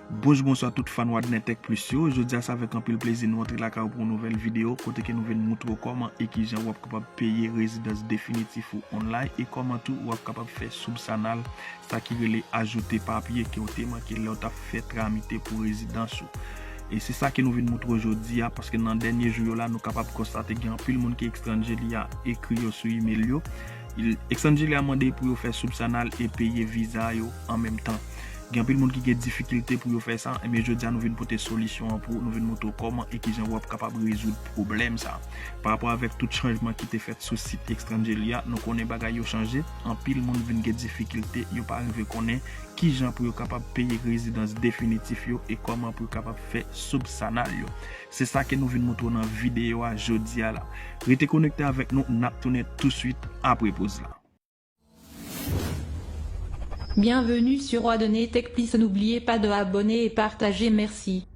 Bonjou bonswa tout fan Wadner Tech Plus yo, jodi a se avèk anpil plezi nou antre lakay ou pou yon nouvèl videyo kote ke nou vin moutre ou kòman e kijan ou ap kapab peye rezidans definitif ou online e kòman tou ou ap kapab fè soubsanal sa ki rele ajoute papye ke ou te manke lè ou tap fè tramite pou rezidans ou. E se sa ke nou vin moutre ou jodi a paske nan dènye jou yo la nou kapab konstate gen anpil moun ki ekstranje li a ekri yo sou email yo Exangelia mande pou yo fè soup sanal e peye viza yo an menm tan. Gen anpil moun ki gen difikilte pou yo fè sa, enben jodi a nou vin pote solisyon an pou ou, nou vin montre w kòman e kijan wap kapab rezoud pwoblèm sa. Parapò avèk tout chanjman ki te fèt sou sit Extranjelia, nou konnen bagay yo chanje, anpil moun vin gen difikilte, yo pa rive konnen kijan pou yo kapab peye rezidans definitif yo e kòman pou yo kapab fè soup sanal yo. Se sa ke nou vin moutre w nan videyo a jodi a la. Rete konekte avèk nou, n ap tounen touswit apre poz la. Bienvenue sur roi de ne tech please n'oubliez pas de abonner et partager merci.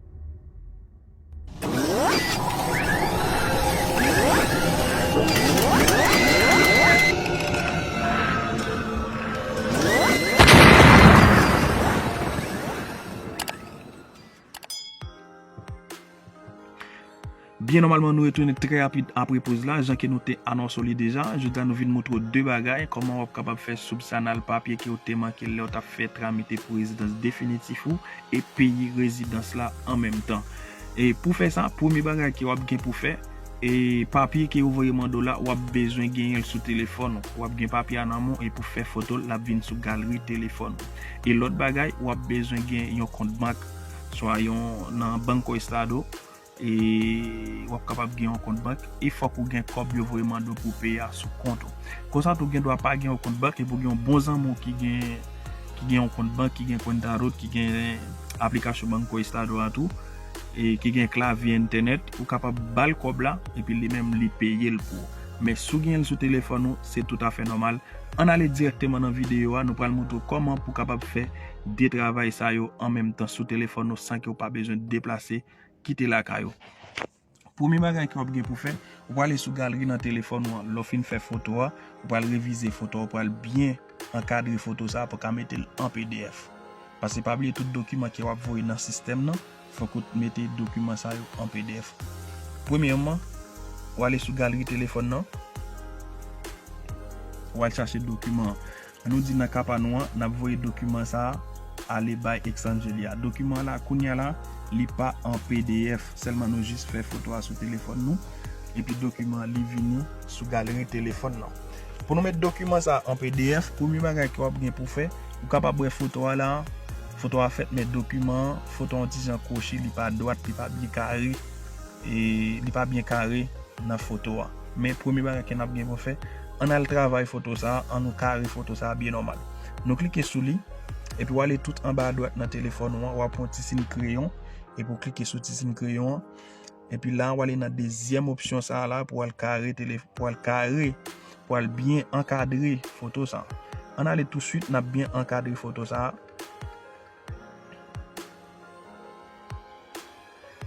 Byen nòmalman nou retounen trè rapid apre poz la, jan ke nou te anonse w li deja. Jodi a nou vin moutre w 2 bagay, kòman w ap kapab fè soub sa nal papye ke w te manke lè w tap fè tramite pou rezidans definitif ou e peyi rezidans la an menm tan. E pou fè sa, premye bagay ke w ap gen pou fè, E papye ke yo voye mande w la, wap bezwen genyen l sou telefòn ou. Wap gen papye a nan men w e pou fè foto l, lap vin sou galri telefòn ou. E lòt bagay, wap bezwen gen yon kont bank, swa yon nan Banco Estado, e wap kapab gen yon kont bank, e fòk ou gen kòb yo voye mande w pou w peye a sou kont ou. Konsa tou, gen dwa pa gen yon kont bank, e pou gen yon bon zanmi w ki gen yon kont bank, ki gen Cuenta Rot, ki gen aplikasyon Banco Estado a tou. e ki gen klavye entènèt ou kapab bal kòb la epi li menm li peyel pou ou men sou genyenl sou telefòn ou se tout afè nòmal ann ale dirèkteman nan videyo a nou pral moutre ou kòman pou kapab fè 2 travay sa yo an menm tan sou telefòn ou san kew pa bezwen deplase kite lakay ou. Premye bagay ke wap gen pou fè, ou pral ale sou galri nan telefòn ou an, lè w fin fè foto a, ou pral revize foto a, ou pral byen ankadre foto sa a pou w ka mete l an pdf. Pase pa bliye tout dokiman ke wap voye nan sistèm nan, fòk ou mete dokiman sa yo an pdf. Premyèman, ou ale sou galri telefòn nan, ou al chache dokiman an. Nou di nan ka pa nou an, n ap voye dokiman sa a ale bay Exangeli a. Dokiman an la, kounye a la, li pa an pdf, sèlman nou jis fè foto a sou telefòn nou, epi dokiman an li vini sou galeri telefòn lan. Pou nou met dokiman sa a an pdf, premye bagay ke w ap gen pou w fè, ou kapab wè foto a la a, foto a fèt men dokiman an, foto a yon ti jan kwochi, li pa dwat, li pa byen kare, li pa byen kare nan foto a. Men premye bagay ke nap gen pou fè, ann al travay foto sa, an nou kare foto sa byen nòmal. Nou klike sou li, epi ou ale tout anba adwat nan telefòn ou an, ou ap wè yon ti siy kreyon, epi ou klike sou ti siy kreyon an, epi la ou ale nan dezyèm opsyon sa la pou al kare, pou al kare, pou al byen ankadre foto sa. Ann ale tou swit nap byen ankadre foto sa.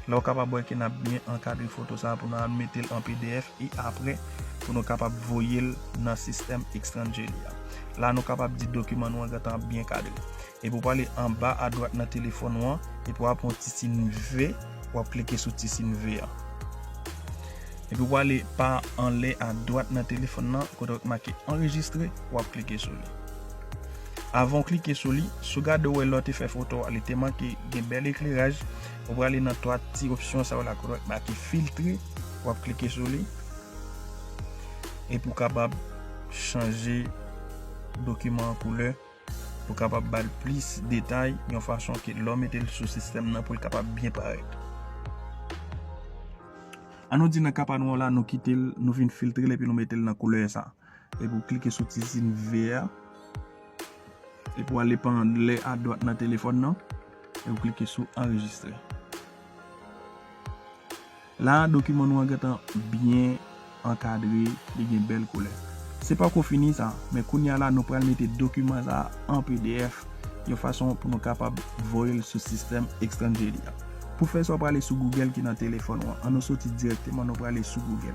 Lè ou kapab wè ke n ap byen ankadre foto sa a pou nou al mete l an pdf e apre pou nou kapab voye l nan sistèm Xrangeli a. La nou kapab di dokiman nou an gentan ap byen kadre. Epi ou prale anba adwat nan telefòn ou an epi w ap pran ti sin V, w ap klike sou ti sin V an. Epi ou prale pa anlè adwat nan telefòn nan kote ki make anrejistre, w ap klike sou li. Avan w klike sou li, si w gade ou wè lè w te fè foto a li te manke gen bèl ekleraj, ou prale nan 3 ti opsyon sa yo la kote ki make filtre, w ap klike sou li epi w kapab chanje dokiman an koulè pou w kapab ba l plis detay yon fason ke lè w mete l sou sistèm nan pou l kapab byen parèt. An nou di nan ka pa nou an la nou kite l, nou vin filtre l epi nou mete l nan koulè sa a. Epi ou klike sou ti sin ve a. Epi ou ale pa angle a dwat nan telefòn nan. Epi ou klike sou anrejistre. La a dokiman nou an gen tan byen ankadre, li gen bèl koulè. Se pa ko fini sa, men kounya la nou pral mete dokiman sa an pdf yon fason pou nou kapab voye l sou sistèm Extangeli a. Pou fè sa ou prale sou Google ki nan telefòn ou an. An nou soti direkteman nou prale sou Google.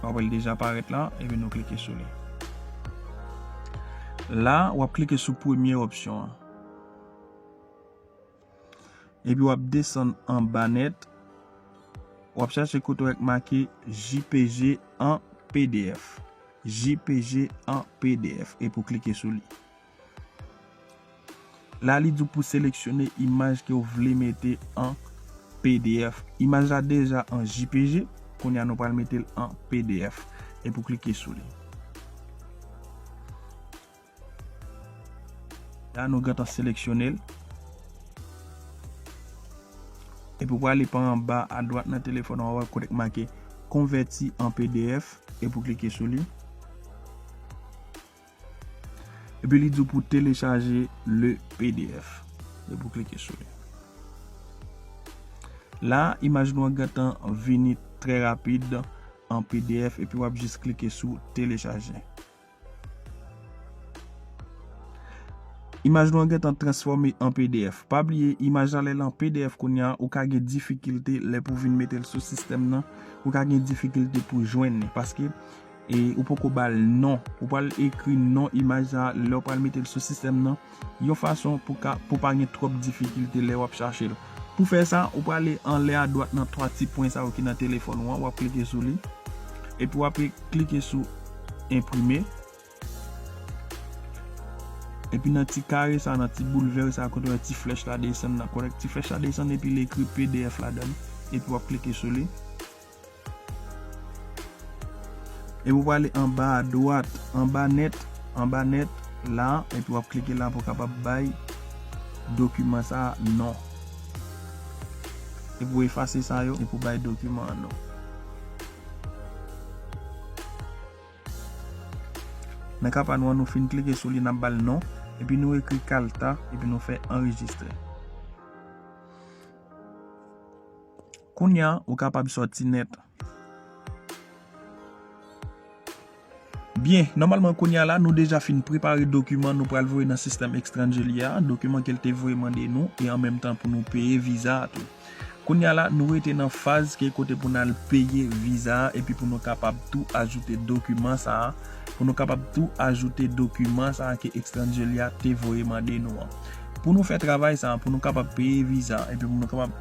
Wap wè li deja parèt la, epi nou klike sou li. La, wap klike sou premye opsyon an. Epi wap desann anba nèt, wap chache kote wè k make jpg an pdf. Jpg an pdf. Epi w klike sou li. La li di w pou seleksyone imaj ke w vle mete an pdf. Imaj la deja an jpg, kounye a nou pral mete l an pdf. Epi w klike sou li. La nou gentan seleksyone l. Epi w prale pa anba a dwat nan telefon ou a kote ki make konvèti an pdf. Epi w klike sou li. Epi li di w pou telechaje le pdf. Epi w klike sou li. La, imaj nou an gentan vini trè rapid an pdf epi w ap jis klike sou telechaje. Imaj nou an gentan transfòme an pdf. Pa bliye, imaj la lè l an pdf kounye a, ou ka gen difikilte lè pou vin mete l sou sistèm nan. Ou ka gen difikilte pou jwenn li. Paske, E ou poko bal non. Ou pral ekri non imaj sa lèw pral metel sou sistèm nan yon fason pou ka pou pa gen twòp difikilte lè wap chachel. Pou fè sa ou prale anlè a dwat nan 3 ti pwen sa yo ki nan telefòn ou an wap klike sou li epi wap klike sou enprime epi nan ti kare sa nan ti boul vè sa kote wè ti flèch la desann nan kote ti flèch la desann epi li ekri pdf ladann epi wap klike sou li. Epi w prale anba a dwat, anba nèt, anba nèt la, epi w ap klike la pou w kapab bay dokiman sa a non. Epi w efase sa yo, epi w bay dokiman an non. Nan ka pa nou an, nou fin klike sou li, n ap ba l non, epi nou ekri kalta, epi nou fè anrejistre. Kounya ou kapab sòti nèt. Byen, nòmalman kounya la nou deja fin prepare dokiman nou pral voye nan sistèm Extranjelia a, dokiman ke l te voye mande nou e an menm tan pou nou peye viza a tou. Kounya la nou rete nan faz ke kote pou n al peye viza a epi pou nou kapab tou ajoute dokiman sa a, pou nou kapab tou ajoute dokiman sa a ke Extranjelia te voye mande nou an. Pou nou fè travay sa a, pou nou kapab peye viza a epi pou nou kapab.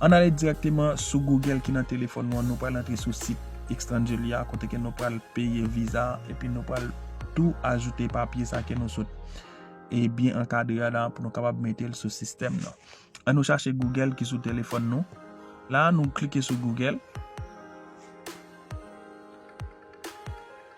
An n ale dirèkteman sou Google ki nan telefòn nou an, nou pral antre sou sit Extranjelia a kote ke nou pral peye viza a epi nou pral tou ajoute papye sa ke nou sot e byen ankadre a la a pou nou kapab mete l sou sistèm nan. An nou chache Google ki sou telefòn nou. La a nou klike sou Google.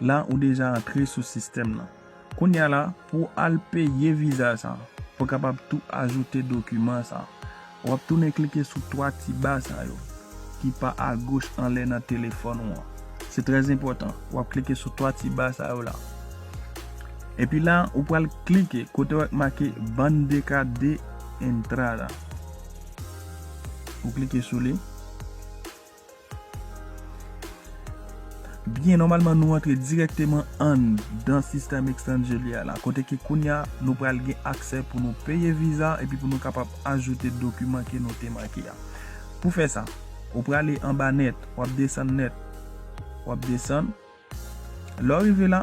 La ou deja antre sou sistèm nan. Kounye a la, pou w al peye viza sa, ou kapab tou ajoute dokiman sa. W ap tounen klike sou 3 ti ba sa yo, ki pa agoch anlè nan telefòn ou an. Se trè enpòtan, w ap klike sou 3 ti ba sa yo la. Epi la, ou pral klike kote w ak make Bande de Carta de Entrada. Ou klike sou li. Byen, nòmalman nou antre direkteman anndan sistèm Xtendjele a la. Kote ke kounya nou pral gen aksè pou nou peye viza epi pou nou kapab ajoute dokiman ke nou te manke a. Pou fè sa, ou prale anba nèt, w ap desann nèt, w ap desann. Lè w rive la.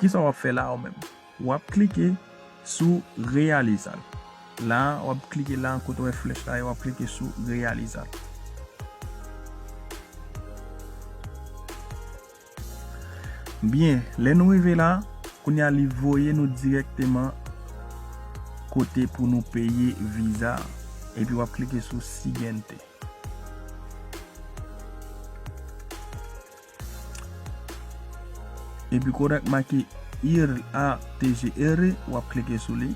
Kisa wap fè la ou menm? Wap klike sou reyaliza l. La wap klike la kote ou wè flèch la e wap klike sou reyaliza l. Byen, lè nou rive la, kounye a li voye nou dirèkteman kote pou nou peye viza a. Epi wap klike sou siguiente. Epi kote ak make ir a tg ere wap klike sou li.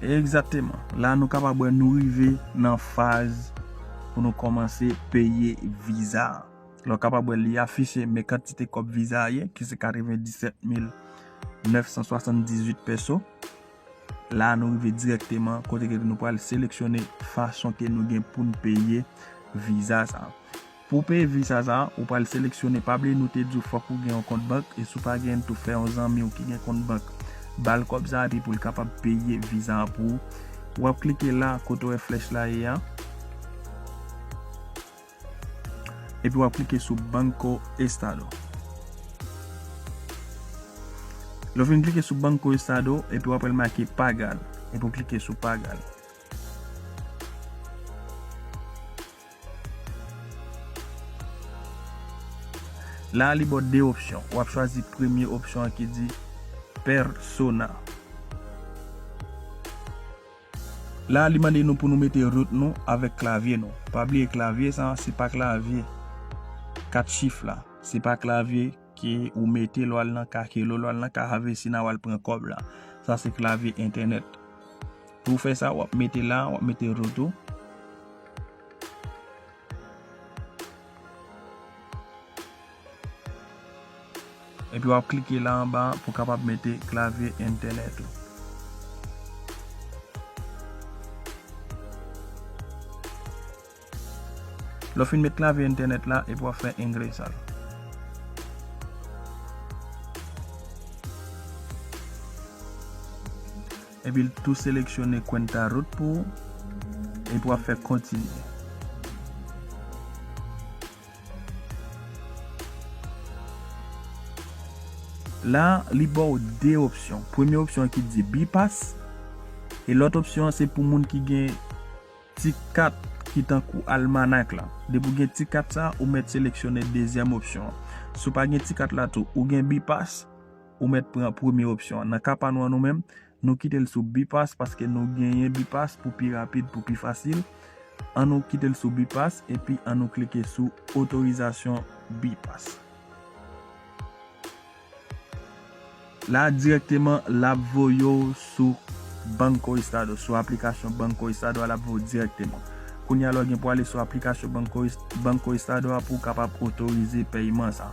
Ekzateman. La nou kapab wè nou rive nan faz pou nou komanse peye viza. Nou kapab wè li afiche men kantite kob viza a ye ki se 97000. 978 pèso. La nou rive direkteman kote ke nou pral seleksyone fason ke nou gen pou nou peye viza sa. Pou peye viza sa, ou pral seleksyone, pa bliye nou te di w fòk ou gen yon kont bank, e si w pa gen l tou fè yon zanmi w ki gen kont bank ba l kòb sa epi pou l kapab peye viza an pou ou. Wap klike la kote ou wè flèch la ye a. Epi wap klike sou Banco Estado. Lè w fin klike sou Banco Estado, epi wap wè l make Pagar. Epi w klike sou Pagar. La li ba w 2 opsyon. Wap chwazi premye opsyon an ki di Persona. La li mande nou pou nou mete root nou avèk klavye nou. Pa bliye klavye sa se pa klavye 4 chif la. Se pa klavye ke ou mete lè w al nan Kakelo, lè w al nan Cahavecina w al pran kòb la. Sa se klavye entènèt. Pou w fè sa wap mete la, wap mete root ou. Epi wap klike la anba pou kapab mete klavye entènèt ou. Lè w fin met klavye entènèt la epi wap fè engresa. Epi l tou seleksyone Cuenta Root pou ou, epi wap fè Kontinye. La, li ba w 2 opsyon. Premye opsyon an ki di Bypass, e lòt opsyon an se pou moun ki gen ti kat ki tankou Almanac la. Depi w gen ti kat sa, ou mèt seleksyone dezyèm opsyon an. Si w pa gen ti kat la tou, ou gen Bypass. Ou mèt pran premye opsyon an. Nan ka pa nou an nou menm, nou kite l sou Bipass paske nou genyen Bipass pou pi rapid, pou pi fasil. An nou kite l sou Bipass epi an nou klike sou otorizasyon Bipass. La dirèkteman l ap voye w sou Banco Estado, sou aplikasyon Banco Estado a l ap voye w dirèkteman. Kounye a la w gen pou ale sou aplikasyon Banco Estado a pou w kapab otorize peyiman sa.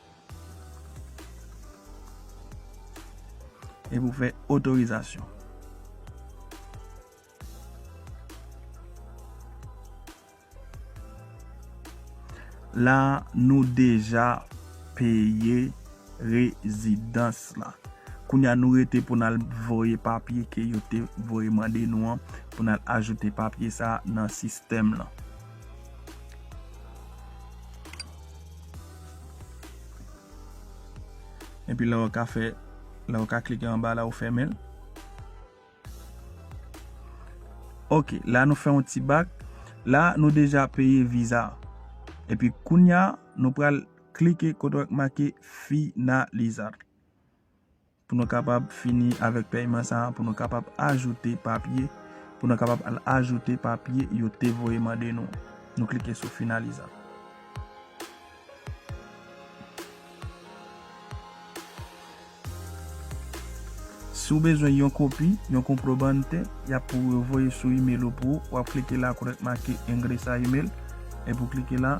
Epi ou fè otorizasyon. La nou deja peye rezidans la. Kounye a nou rete pou nan voye papye ke yo te voye mande nou an pou nan ajoute papye sa nan sistèm la. Epi la ou ka fè, la ou ka klike anba la ou fèmen l. Ok, la nou fè yon ti bak. La nou deja peye viza. Epi kounya nou pral klike kote wè k make finalizar. pou nou kapab fini avèk pèyman sa a, pou nou kapab ajoute papye, pou nou kapab al ajoute papye yo te voye mande nou an. Nou klike sou Finaliza. Si ou bezwen yon kopi, yon Comprobante, y ap pou yo voye sou imel ou pou ou, w ap klike la kote k make Ingresa Email, epi w klike la.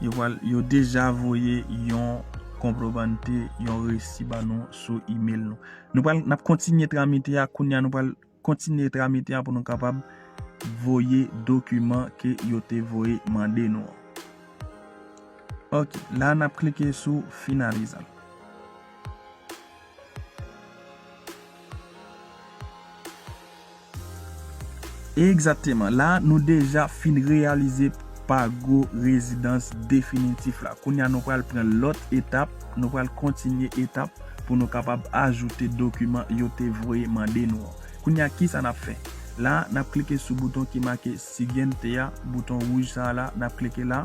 Yo deja voye yon konprobante, yon resi ba nou sou email nou. Nou pral nap kontinye tramite a kounya nou pral kontinye tramite a pou nou kapab voye dokiman ke yo te voye mande nou an. Ok, la nap klike sou finalize. Egzateman, la a nou deja fin reyalize pa gwo rezidans definitif la. Kounye a nou pral pran lòt etap, nou pral kontinye etap pou nou kapab ajoute dokiman yo te voye mande nou an. Kounye a kisa n ap fè? La a, n ap klike sou bouton ki make Siguiente a, bouton wouj sa a la, n ap klike la.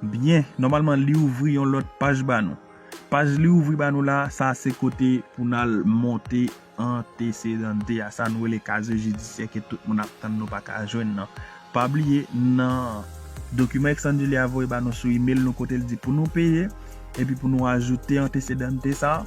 Byen, nòmalman li ouvri yon lòt paj ba nou. Paj li ouvri ba nou la, sa a se kote pou n al monte antesedante a, sa nou rele kazye jidisyè ke tout moun ap tann nou pa ka jwenn nan. Pa bliye, nan dokiman Exandile a voye ba nou sou imel nou kote l di pou nou peye, epi pou nou ajoute antesedante sa a,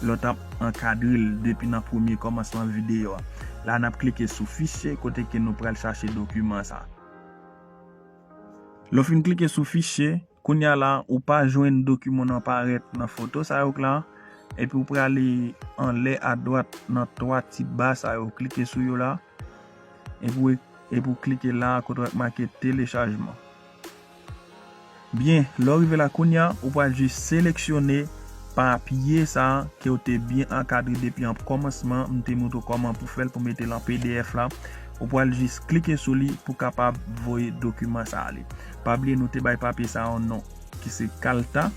Lè w t ap ankadre l depi nan premye kòmansman videyo a. La n ap klike sou Fichye kote ke nou pral chache dokiman sa. Lè w fin klike sou Fichye, kounye a la ou pa jwenn dokiman nan parèt nan foto sa yo k la. Epi w prale anlè adwat nan 3 ti ba sa yo, klike sou yo la. Epi ou klike la a kote wè make telechajman. Byen, lè ou rive la kounye a, ou pral jis seleksyone papye sa a ke ou te byen ankadre depi an kòmansman. M te montre ou kòman pou fè l pou mete l an pdf la. Ou pral jis klike sou li pou kapab voye dokiman sa ale. Pa bliye nou te bay papye sa a yon non ki se kalta.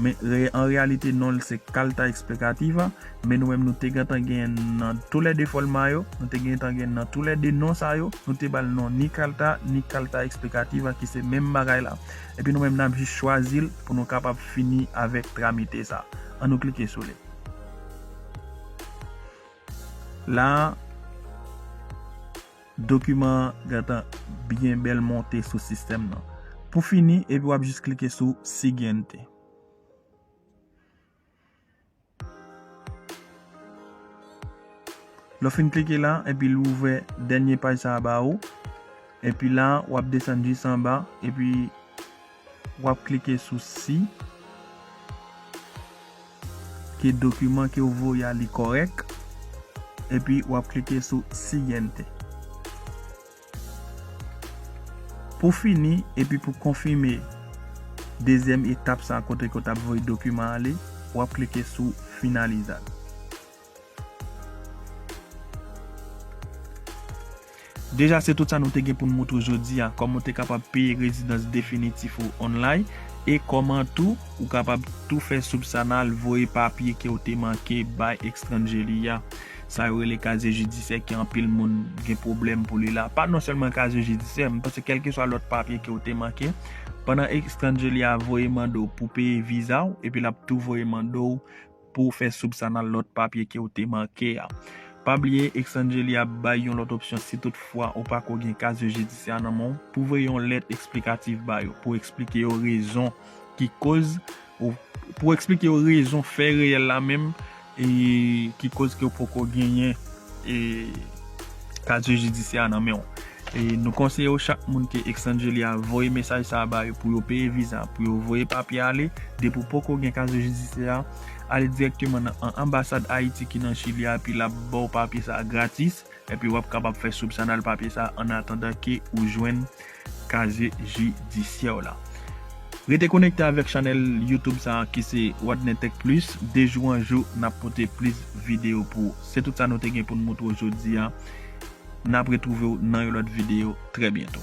Men, an reyalite, non l se Carta Explicativa, men nou menm nou te gentan gen nan tou lè de fòlma yo, nou te gentan gen nan tou lè de non sa yo, nou te ba l non ni Carta, ni Carta Explicativa ki se menm bagay la. Epi nou menm n ap jis chwazi l pou nou kapab fini avèk tramite sa. An nou klike sou li. La a. Dokiman an gentan byen bèl monte sou sistèm nan. Pou fini, epi w ap jis klike sou Siguiente. Lè w fin klike la, epi l ouvè dènye paj sa a ba ou. Epi la, w ap desann jis anba, epi Wap klike sou si ke dokiman ke ou voye a li korèk epi wap klike sou siguiente. Pou fini epi pou konfime dezyèm etap sa kote ke ou tap voye dokiman ale wap klike sou finalizar. Deja se tout sa nou te gen pou n moutre w jodi a, kòman w te kapab peye rezidans definitif ou online e kòman tou ou kapab tou fè soub sa nan al voye papye ke w te manke bay extranje li a. Sa yo rele kazye jidisyè ke anpil moun gen pwoblèm pou li la. Pa non sèlman kazye jidisyè, m panse kelkeswa lòt papye ke w te manke, pandan extranje li a voye mande w pou peye viza w epi l ap tou voye mande w Pouw fè soup sa nan lòt papye kew te manke a. Pa bliye Xangeli ap bay yon lòt opsyon si tout fwa ou pako gen kazye jidisyè a nan menw pou voye yon lèt eksplikatif ba yo pou eksplike yo rezon ki koz ou pou eksplike yo rezon fè reyèl la menm ki koz kew poko genyen E kadye jidisyè a nan menw. E nou konseye yo chak moun ke extrange li a voye mesaj sa a ba yo pou yo peye viza pou yo voye papye ale depi w poko gen kadye jidisyè a ale direkteman nan an anbasad ayiti ki nan chili a epi lap baw papye sa a gratis epi wap kapab fè soupsyonal papye sa a an atandan ke ou jwenn kazye jidisyè w lan. Rete konekte avèk chanèl YouTube sa a ki se Wadner Tech Plus, de jou an jou n ap pote plis videyo pou ou. Se tout sa nou te gen pou n moutre w jodi a, n ap retwouve w nan yon lòt videyo trè byento.